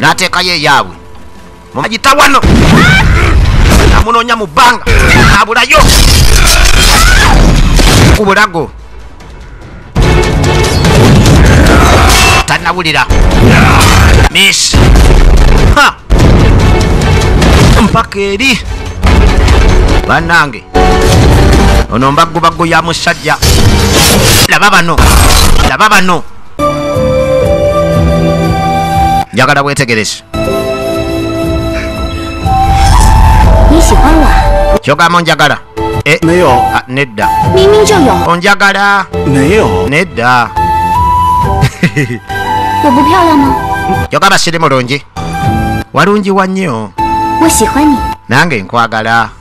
n'ateekayo eyaabwe mumagita wano amunoonya mu bbanga abulayo ku bulago tanawulira miss mpaka eri banange ono mbaggu baggu ya musajja laba bano laba bano njagala wetegereze kyogamba onjagala eh, ah, nedda onjagala nedda kyogamba siri mulungi walungi wa nnyo nange nkwagala